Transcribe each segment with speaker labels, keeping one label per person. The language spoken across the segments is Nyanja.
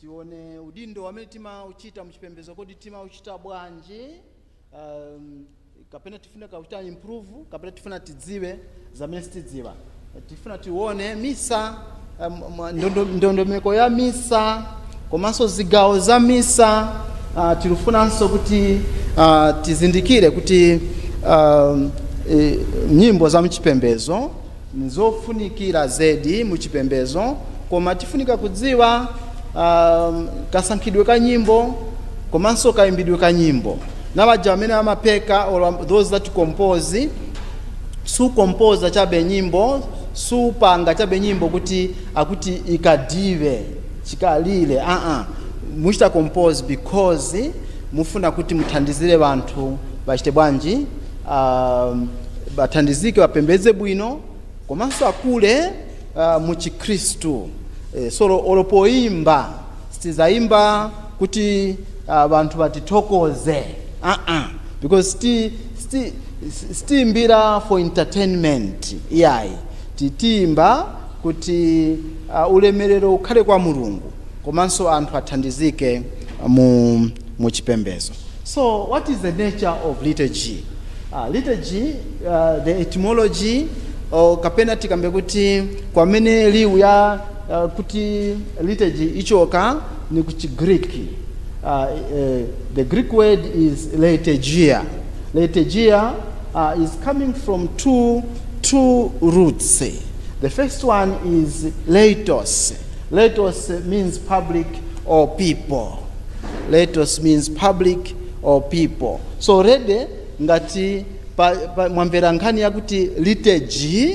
Speaker 1: Tione udindo wamene timauchita muchipembezo kodi timauchita bwanji um, kapena tifuna kuuchita improve kapena tifuna tidziwe zamene sitidziwa tifuna tione misa um, ndondo, ndondomeko ya misa komanso zigawo za misa uh, tilikufunanso kuti uh, tizindikire kuti um, e, nyimbo za mchipembezo n'zofunikira zedi mu chipembedzo, koma tifunika kudziwa kasankhidwe ka nyimbo komanso kaimbidwe ka nyimbo. Na baja bamene bamapeka or those who compose, sukompoza chabe nyimbo, supanga chabe nyimbo kuti akuti ikalibe chikalire aa, muchita compose because mufuna kuti muthandizire banthu bachite bwanji? um, bathandizike bapembedze bwino komanso akule uh, mu chikhristu e, so olo poimba sitizayimba kuti uh, banthu batithokoze uh -uh. because sti, sti, sitiimbira for entertainment iyayi titiimba kuti uh, ulemerero ukhale kwa mulungu komanso anthu athandizike mu mu chipembedzo. So what is the nature of liturgy? Uh, liturgy, uh, the etymology, or kapena tikambe kuti kwamene liwu ya uh, kuti liturgy ichoka ni ku Greek. Uh, uh, the Greek word is liturgia. Liturgia uh, is coming from two, two roots. The first one is leitos. Leitos means public or people. Leitos means public or people. So already ngati pa, pa, mwamvera nkhani yakuti liturgy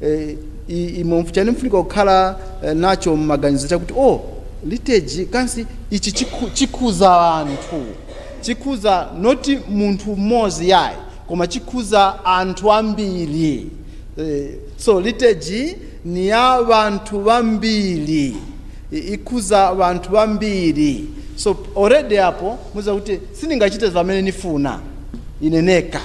Speaker 1: eh, imeneyi mfunika kukhala eh, nacho mmaganizo chakuti oh liturgy kansi ichi chiku- chikhuza anthu chikhuza noti munthu mmodzi yayi koma chikhuza anthu ambiri eh, so liturgy Ni ya banthu bambiri. I, ikhuza banthu bambiri. So, already apo, muziba kuti, siningachite vamene nifuna, ine neka.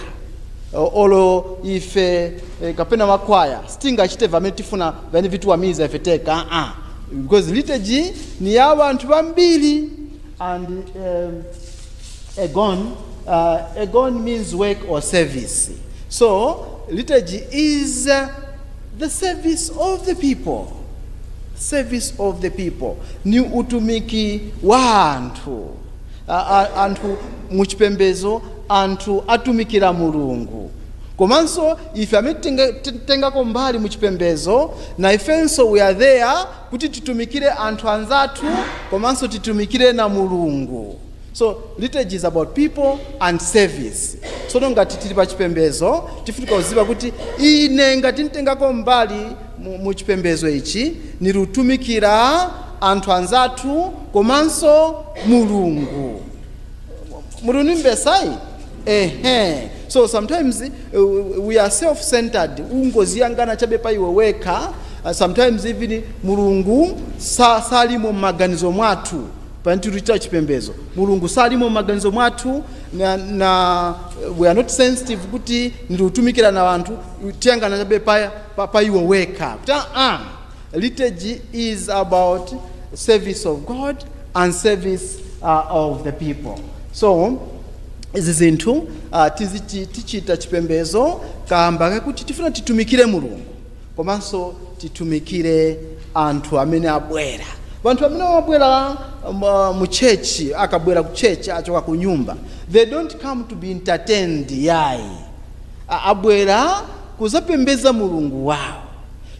Speaker 1: O- Olo ife, eh, kapena bakwaya, sitingachite vamene tifuna, vamene vitiwamiza ife teka, ah, ah. Because liturgy ni ya banthu bambiri. And, um, Ergon, uh, Ergon means work or service. So, liturgy is uh, The service of the people. Service of the people. Ni utumiki wa anthu. A- a- Anthu muchipembezo anthu atumikira Mulungu. Komanso ife amene tinga- ti- tengako mbali muchipembezo na ifenso we are there kuti titumikire anthu anzathu komanso titumikire na Mulungu. So liturgy is about people and service. Tsono ngati tili pa chipembedzo tifunika uziba kuti ine ngati nitengako mbali mu, mu chipembedzo ichi niliutumikira anthu anzathu komanso Mulungu. Muli unimvesa ayi? Ehe. So sometimes uh, we are self-centered. Ungoziyangana chabe pa iwe wekha. Uh, sometimes even Mulungu sa, salimo maganizo mwathu. Pe tiluchita chipembezo, Mulungu salimo mmaganizo mwathu, na, na, we are not sensitive kuti niliutumikira na banthu, tiyangana chabe pa, pa, pa iwe wekha. Kuti aa, ah, liturgy is about service of God and service uh, of the people. So, izi zinthu uh, tichita chipembezo kamba kakuti tifuna titumikire Mulungu. Komanso titumikire anthu amene abwera. Banthu bamene bamabwera mu church, akabwera ku church, achoka kunyumba, they don't come to be entertained yayi. Abwera kuzapembeza Mulungu wawo.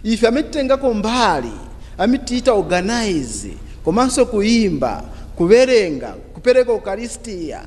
Speaker 1: Ife amene titengako mbali, amene tichita organize, komanso kuyimba, kubelenga, kupereka ukalistia,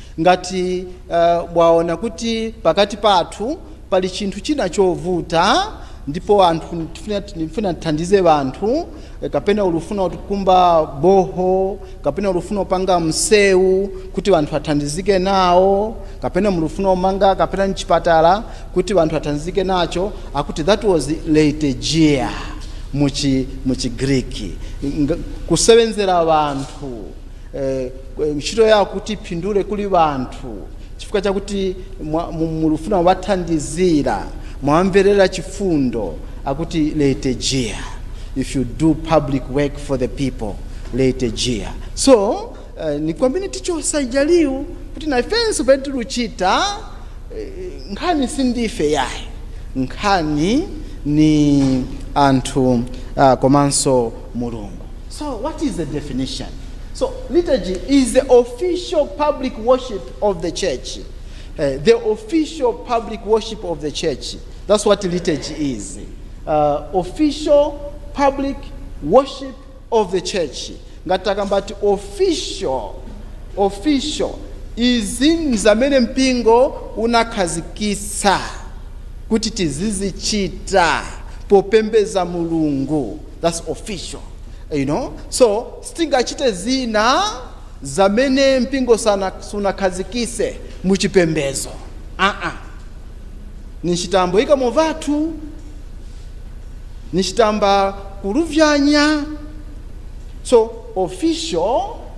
Speaker 1: Ngati mwaona kuti pakati pathu pali chinthu china chovuta ndipo anthu tifuna tithandize anthu kapena uli ufuna ukumba boho kapena uli ufuna upanga mseu kuti anthu athandizike nawo kapena muli ufuna umanga kapena chipatala kuti anthu athandizike nacho akuti that was leitegeia muchi muchi Greek kusewenzera anthu eh, ntchito yawo kuti iphindule kuli banthu chifukwa chakuti mwa- mu- mulufuna uwathandizira mwawamverera chifundo akuti leitejia if you do public work for the people leitejia so uh, ni kwamene tichosa ija liwu kuti naifenso pene tiluchita eh, nkhani sindife yayi nkhani ni anthu uh, komanso mulungu So what is the definition? So liturgy is the official public worship of the church. Uh, the official public worship of the church. That's what liturgy is. Uh, official public worship of the church. Ngatakambati official official izi nzamene mpingo unakhazikitsa kuti tizizichita popembeza mulungu that's official you know so sitingachite zina zamene mpingo sana- sunakhazikise mu chipembezo aa ninchitambo ikamo vathu ninchitamba kuluvyanya so official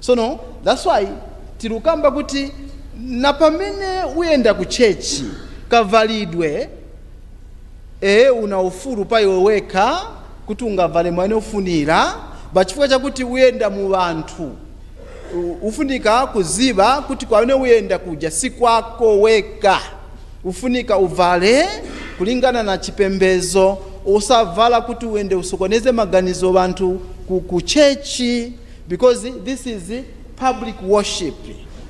Speaker 1: Sono, that's why tilukamba kuti na pamene uyenda ku church, kavalidwe, eeh, una ufulu pa iwe wekha kuti ungavale mwamene ufunila, but chifukwa chakuti uyenda mu banthu, u-ufunika kuziba kuti kwamene uyenda kuja si kwako weka, ufunika uvale kulingana na chipembezo, osavala kuti uende usokoneze maganizo banthu ku-ku church. Because this is public worship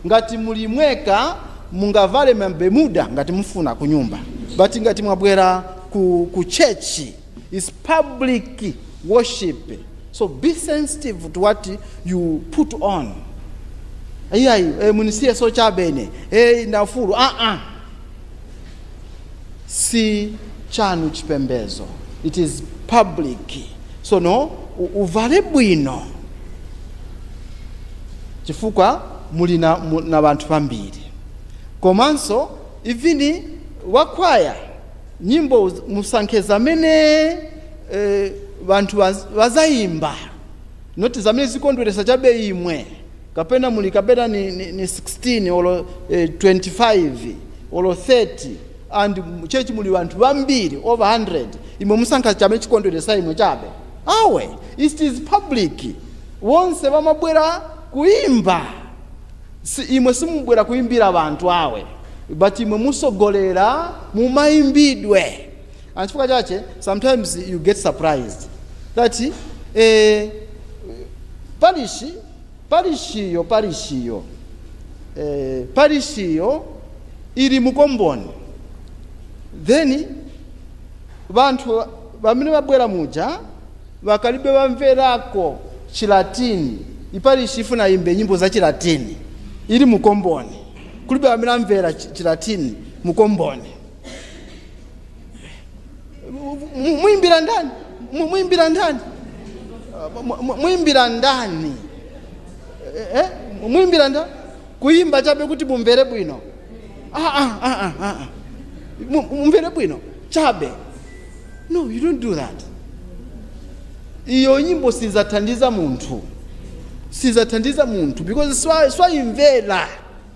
Speaker 1: ngati muli mweka mungavale ma bemuda ngati mufuna kunyumba but ngati mwabwera ku ku church is public worship so be sensitive to what you put on iyayi eh, munisiye so chabe ine eh, ndafulu ah -ah. si chanu chipembezo it is public tsono u- uvale bwino chifukwa muli na, mu- na banthu bambiri komanso ivini wakwaya nyimbo uz- musankhe zamene eh, banthu baz- bazayimba noti zamene zikondweresa chabe imwe kapena muli kapena ni, ni, ni 16 olo eh, 25 olo 30 and mu church muli banthu bambiri over 100 imwe musankha chamene chikondweresa imwe chabe awe it is public wonse bamabwera kuimba si, imwe simubwera kuimbira banthu awe but imwe musogolera mumaimbidwe and chifukwa chache sometimes you get surprised that eh, parishi Parishiyo, parishiyo, eh, parishiyo ili mu komboni, then banthu bamene babwera muja bakalibe bamverako chilatini parishi ifuna imbe nyimbo za chilatini ili mu komboni kulibe wamene amvera chi- chilatini mu komboni Mu- mwimbira ndani Mu- mwimbira ndani Uh, mu- mu- mwimbira ndani Eh, eh, mwimbira ndani kuyimba chabe kuti mumvere bwino Ah, ah, ah, ah, ah, ah. Mu- mumvere bwino chabe no you don't do that iyo nyimbo sizathandiza munthu sizathandiza munthu because si- siwayimvera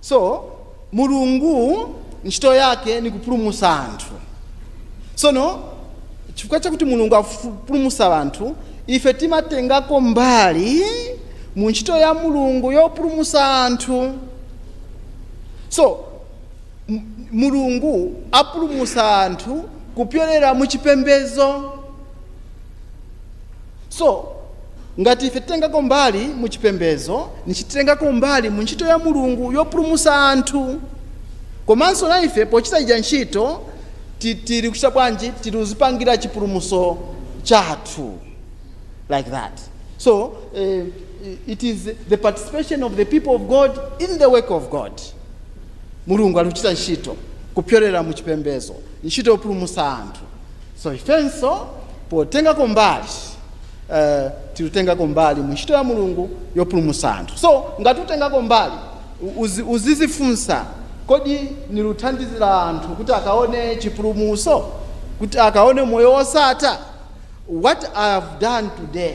Speaker 1: So mulungu ntchito yake nikupulumusa anthu sono chifukwa chakuti mulungu apulumusa anthu ife timatengako mbali mu ntchito ya mulungu yopulumusa anthu so mulungu apulumusa anthu kupyolera mu chipembezo so ngati ife titengako mbali mu chipembedzo nishi titengako mbali mu ntchito ya mulungu yopulumusa anthu komanso na ife pochita ija ntchito ti- tili kuchita bwanji tili kuzipangira chipulumuso chathu like that so uh, it is the participation of the people of god in the work of god mulungu ali kuchita ntchito kupyolera mu chipembedzo ntchito yopulumusa anthu So ifenso potengako mbali tilutengako mbali mu ntchito ya Mulungu yopulumusa anthu. So ngati utengako mbali uzizifunsa kodi niluthandizila anthu kuti akaone chipulumuso? Kuti akaone moyo wosatha? What I have done today.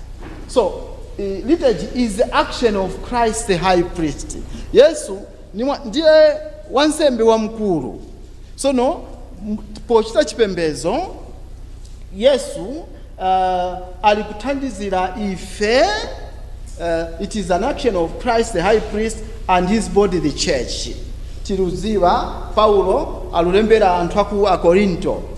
Speaker 1: so eh, liturgy is the action of christ the high priest yesu ni mwa- ndiye wansembe wamkulu sono m- pochita chipembedzo yesu uh, ali kuthandizira ife uh, it is an action of christ the high priest and his body the church tiludziwa paulo alulembera anthu aku akorinto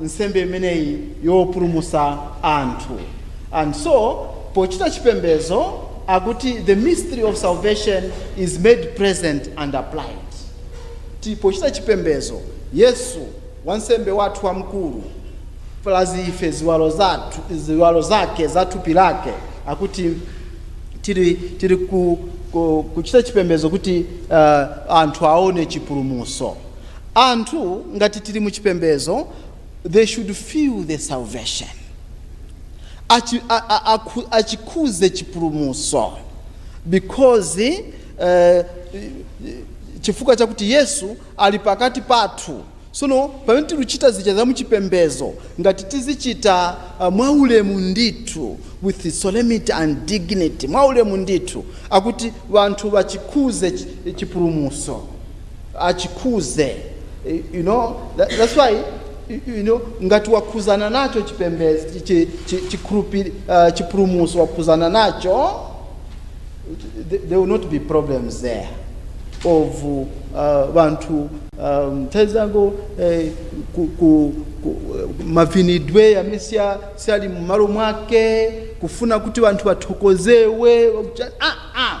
Speaker 1: nsembe imeneyi yopulumutsa anthu. And so pochita chipembedzo akuti the mystery of salvation is made present and applied. T pochita chipembedzo Yesu wansembe wathu wamkulu plus ife ziwalo zathu ziwalo zake za thupi lake akuti tili tili ku ku kuchita chipembedzo kuti uh, anthu aone chipulumutso. Anthu ngati tili mu chipembezo they should feel the salvation Achi, a, a, akhu, achikhudze chipulumutso because uh, chifukwa chakuti yesu ali pakati pathu sono pamene tiluchita zija za muchipembezo ngati tizichita uh, mwaulemu ndithu with solemnity and dignity mwaulemu ndithu akuti vanthu vachikhudze chipulumutso achikhudze you know that, that's why you know ngati wakhudzana nacho chipembedzo chi- chi- chi- chikhulupi- ah, chipulumutso wakhudzana nacho th- there will not be problems there of uh, vanthu um, nthawi zangu eh, ku, ku, ku, mavinidwe yamene siya- siyali mumalo mwake kufuna kuti vanthu vathokozewe wakucha- ah, ah,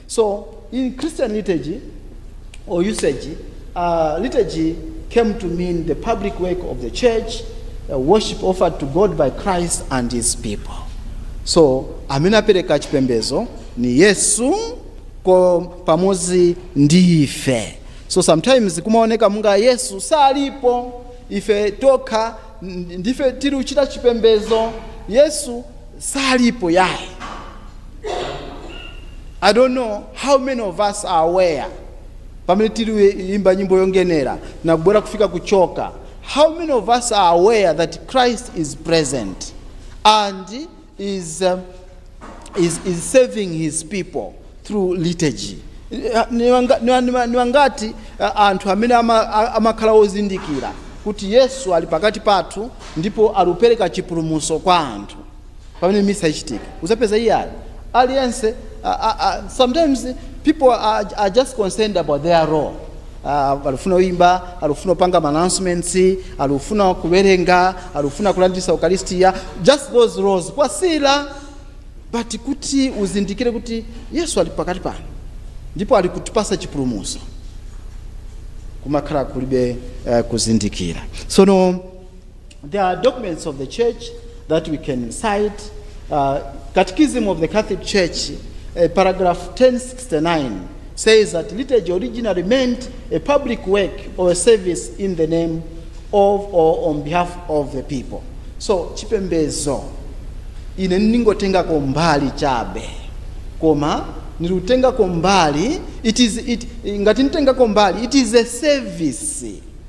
Speaker 1: So in Christian liturgy or usage, uh, liturgy came to mean the public work of the church, uh, worship offered to God by Christ and his people. So amene apereka chipembezo ni Yesu ko pamodzi ndi ife. So sometimes kumaoneka munga Yesu salipo ife tokha n- ndife tiri uchita chipembezo Yesu salipo yayi i don't know how many of us are aware pamene tiliimba nyimbo yongenera na kubwera kufika kuchoka how many of us are aware that christ is present and is, um, is, is saving his people through liturgy. Eh, Ni wanga- ni wa- ni wa- ni wangati eh, anthu amene ama- a- amakhala ozindikira kuti Yesu ali pakati pathu ndipo alupereka chipulumutso kwa anthu pamene misa ichitika uzapeza yayi ali aliyense a- a- a- sometimes people are, are just concerned about their role Ah, alufuna kuimba alufuna kupanga announcements alufuna kuwerenga alufuna kulandilisa ukaristiya just those roles kwasila But kuti uzindikire kuti Yesu ali pakati pano ndipo ali kutipasa chipulumuso kumakhala kulibe uh, kuzindikira. Sono there are documents of the church that we can cite uh, Catechism of the Catholic Church uh, paragraph 1069 says that liturgy originally meant a public work or a service in the name of or on behalf of the people. So chipembezo ine ningotengako mbali chabe koma nilutengako mbali it is it ngati nditengako mbali it is a service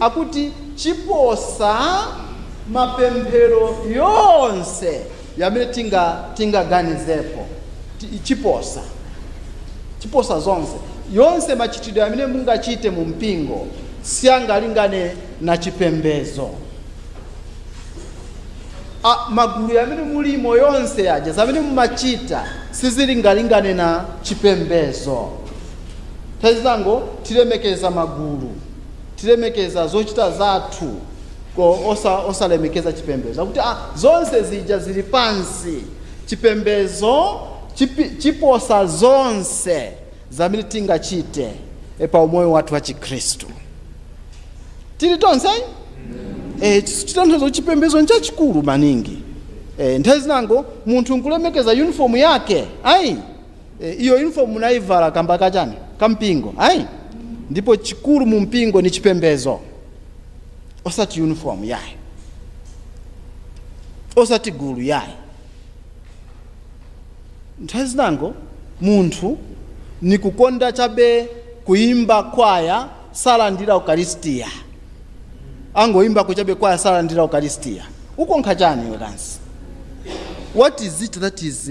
Speaker 1: akuti ciposa mapemphero yonse yamene tinga tinga ganizepo. Ti, ciposa, ciposa zonse, yonse machitidwe yamene munga chite mu mpingo sianga lingane na chipembezo. A, magulu yamene mulimo yonse yaja zamene mumachita sizilinga lingane na chipembezo. Tezango tilemekeza magulu. tilemekeza zochita zathu osa, osalemekeza chipembedzo akuti ah, zonse zija zili pansi chipembedzo chipi, chiposa zonse zamene tingachite e, pa umoyo wathu wa chikhristu tili tonse eh, chitanthauzo chipembedzo nchachikulu maningi eh, nthawi zinango munthu nkulemekeza uniform yake ayi E, iyo uniform munaivala kamba kachani kampingo ayi ndipo chikulu mu mpingo ni chipembezo osati uniform yayi osati gulu yayi nthawi zinango munthu ni kukonda chabe kuimba kwaya salandira ukaristiya angoimbako chabe kwaya salandira ukaristiya ukonkha chani iwe kansi what is it that is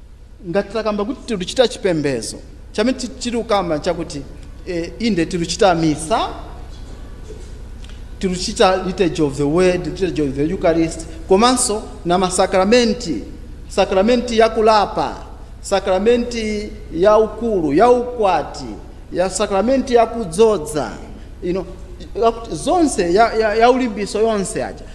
Speaker 1: ngati takamba kuti tiluchita chipembezo chamene ti- tilukamba chakuti eh, inde tiluchita misa tiluchita liturgy of the word liturgy of the eucharist komanso na masakramenti sakramenti ya kulapa sakramenti ya ukulu ya ukwati ya sakramenti ya kudzodza you know, ya- zonse ya, ya, ya ulimbiso yonse aja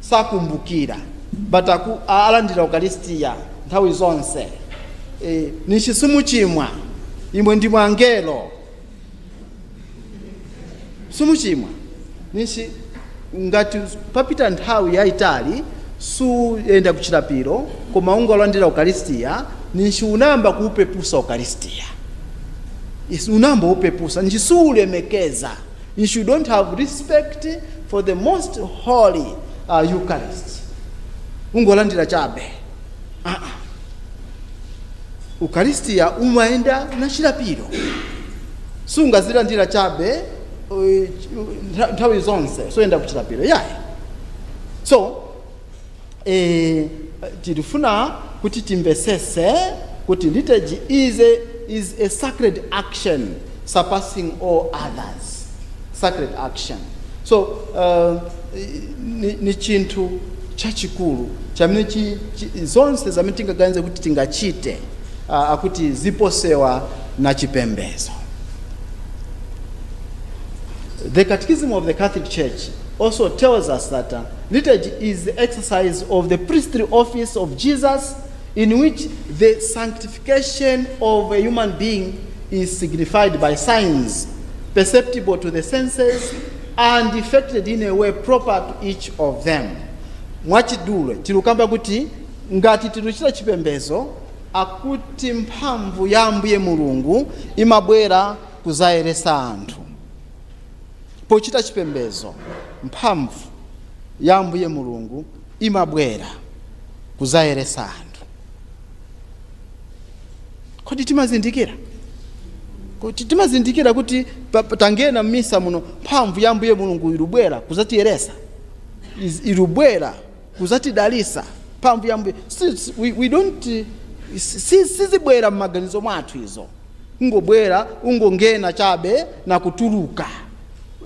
Speaker 1: sakumbukira but aku, a- alandira ukaristiya nthawi zonse e, ninshi simuchimwa imwe ndimwe angelo simuchimwa ninshi ngati papita nthawi yayitali suyenda kuchilapiro koma ungolandira ukaristiya ninshi unayamba kuupepusa ukaristiya Isi- unayamba kuupepusa ninshi siulemekeza If you don't have respect for the most holy uh, Eucharist, ungolandira chabe. Uh-uh. Ukaristiya umayenda na chilapiro. Sungazilandira chabe uh, ntha- nthawi zonse suyenda kuchilapiro. Yayi. So E, tilufuna kuti timvesese kuti liturgy is a, is a sacred action surpassing all others sacred action so uh, ni, ni chinthu chachikulu chamene chi, chi, zonse zamene tingaganize kuti tingachite uh, akuti ziposewa na chipembezo the catechism of the catholic church also tells us that uh, Liturgy is the exercise of the priestly office of Jesus in which the sanctification of a human being is signified by signs perceptible to the senses and effected in a way proper to each of them. Mwachidule tilukamba kuti ngati tiluchita chipembezo akuti mphamvu ya Ambuye Mulungu imabwera kuzayeresa anthu. pochita chipembedzo, mphamvu ya Ambuye Mulungu imabwera kudzayeretsa anthu. Kodi timazindikira? Kodi timazindikira kuti pa- pa- tangena m'misa muno mphamvu ya Ambuye Mulungu ilubwera kudzatiyeretsa is- ilubwera kudzatidalitsa mphamvu ya Ambuye Si- si- we, we don't eh, si- si- sizibwera m'maganizo mwathu izo ungobwera ungongena chabe na kutuluka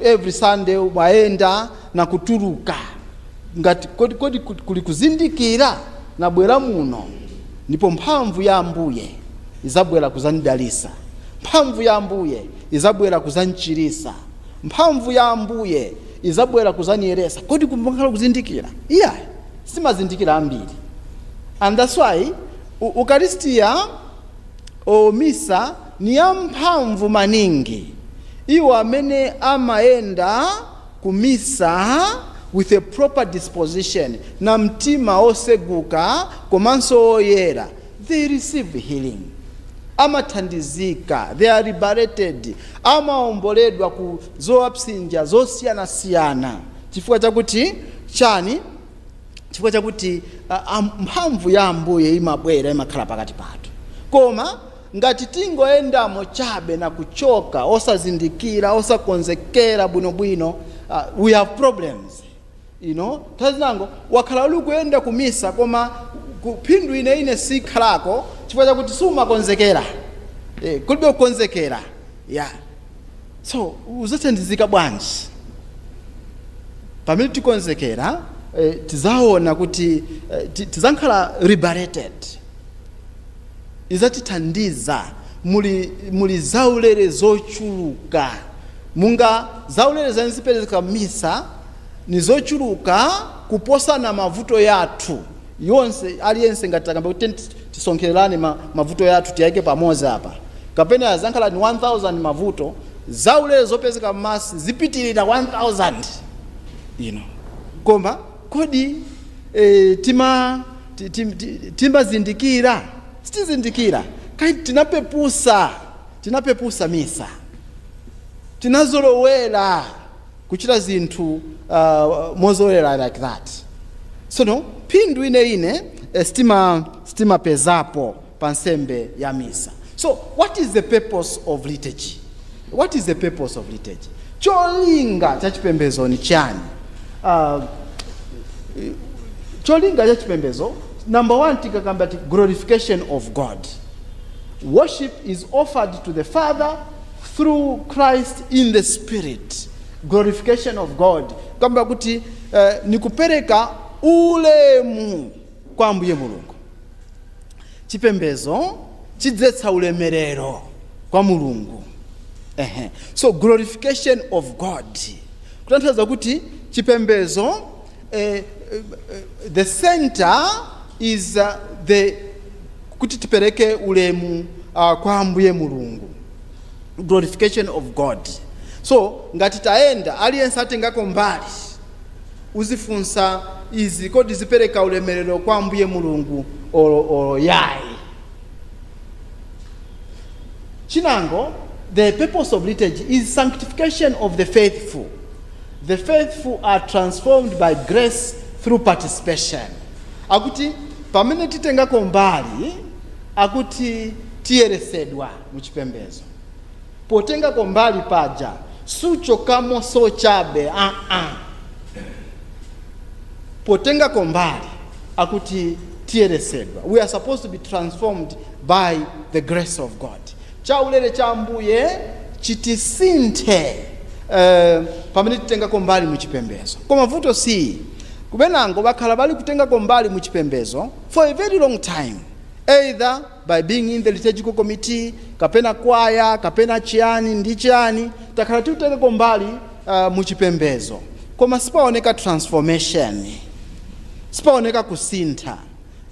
Speaker 1: every sunday umayenda na kutuluka ngati kodi, kodi ku- kuli kuzindikira nabwera muno ndipo mphamvu ya ambuye izabwera kuzandidalisa mphamvu ya ambuye izabwera kuzanichirisa mphamvu ya ambuye izabwera kuzaniyeresa kodi kumakhala kuzindikira iyayi simazindikira ambiri and that's why u- ukaristiya Oh, misa ni yamphamvu maningi. Iwo amene amayenda ku misa with a proper disposition, na mtima oseguka komanso oyera, they receive healing. Amathandizika, they are liberated. Amaomboledwa ku zowapsinja zosiyana-siyana. Chifukwa chakuti chani? chifukwa chakuti a, a, mphamvu ya ambuye imabwera imakhala pakati pathu koma ngati tingoyendamo chabe na kuchoka osazindikira osakonzekera bwinobwino uh, we have problems you know nthawi zinango wakhala uli kuyenda kumisa koma ku- phindu yeniyeni sikhalako chifukwa chakuti sumakonzekera eh, kulibe kukonzekera yeah So uzathandizika bwanji pamene tikonzekera eh, tizaona kuti eh, ti- tizakhala liberated izatithandiza muli, muli zaulere zochuluka muja zaulere zimene zipereka misa ni zochuluka kuposana mavuto yathu yonse aliyense ngati takamba kuti tiyeni tisonkhererane ma, mavuto yathu tiyaike pamodzi apa kapena azakhala ni 1000 mavuto zaulere zopezeka m'Mass zipitirira 1000 iyo koma kodi e, tima ti- ti- ti- timazindikira sitizindikira kai tinapepusa tinapepusa misa tinazolowera kuchita zinthu mozolowera like that tsono phindu yeniyeni sitimapezapo pa nsembe ya misa so what is the purpose of liturgy what is the purpose of liturgy cholinga cha chipembedzo ni chani uh, cholinga cha chipembedzo number one tikakamba kuti glorification of god worship is offered to the father through Christ in the Spirit, glorification of God, kamba kuti eh, nikupereka ulemu kwa Ambuye Mulungu. Chipembezo chidzetsa ulemerero kwa Mulungu. Ehe. So glorification of God. Kutanthauza kuti chipembezo the center is uh, the, kuti tipereke ulemu uh, kwa ambuye mulungu glorification of god so ngati tayenda aliyense atengako mbali uzifunsa izi kodi zipereka ulemerero kwa ambuye mulungu olo, olo yayi chinango the purpose of liturgy is sanctification of the faithful The faithful are transformed by grace through participation. Akuti pamene titengako mbali akuti tiyeresedwa muchipembezo. Potengako mbali paja suchokamo so chabe aa. Potengako mbali akuti tiyeresedwa. We are supposed to be transformed by the grace of God. chaulere cha Ambuye chitisinthe pamene titengako mbali mu chipembezo. Koma vuto see, benango bakhala bali kutengako mbali mu chipembezo for a very long time either by being in the liturgical committee, kapena kwaya, kapena chiyani ndi chiyani, takhala tikutengako mbali mu chipembezo koma sipaoneka transformation, sipaoneka kusintha.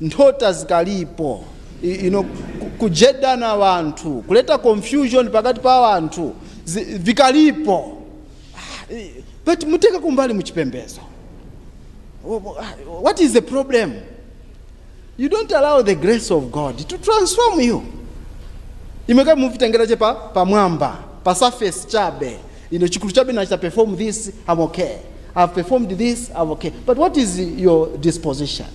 Speaker 1: nthota zikalipo y- you know, ku- kujeda wanthu kuleta confusion pakati pa wanthu zi- vikalipo Ah, eh, but mutengako mbali muchipembezo Wh- wh- what is the problem you don't allow the grace of god to transform you imwe kaili muvitengera che pamwamba pa surface chabe Ine chikulu chabe nachita perform this, I'm okay. I've performed this, I'm okay. But what is your disposition?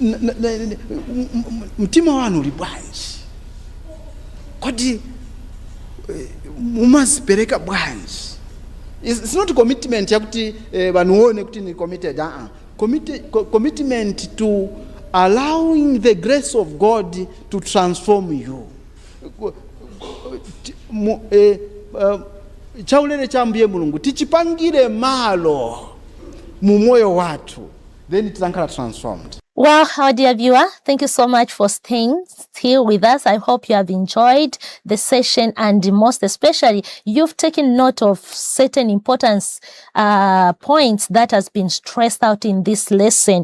Speaker 1: N- n- n- m- m- Mtima wanu uli bwanji? Kodi eh, mumazipereka bwanji? It's it's not commitment yakuti eh, vanthu aone kuti ni committed. Uh-uh. Commit, co- commitment to allowing the grace of God to transform you. ku- ku- ti- mu- eh, eh, chaulere cha ambuye mulungu tichipangire malo mu moyo wathu then tizankhala transformed Well, our dear viewer, thank you so much for staying still with us. I hope you have enjoyed the session and most especially you've taken note of certain important uh, points that has been stressed out in this lesson.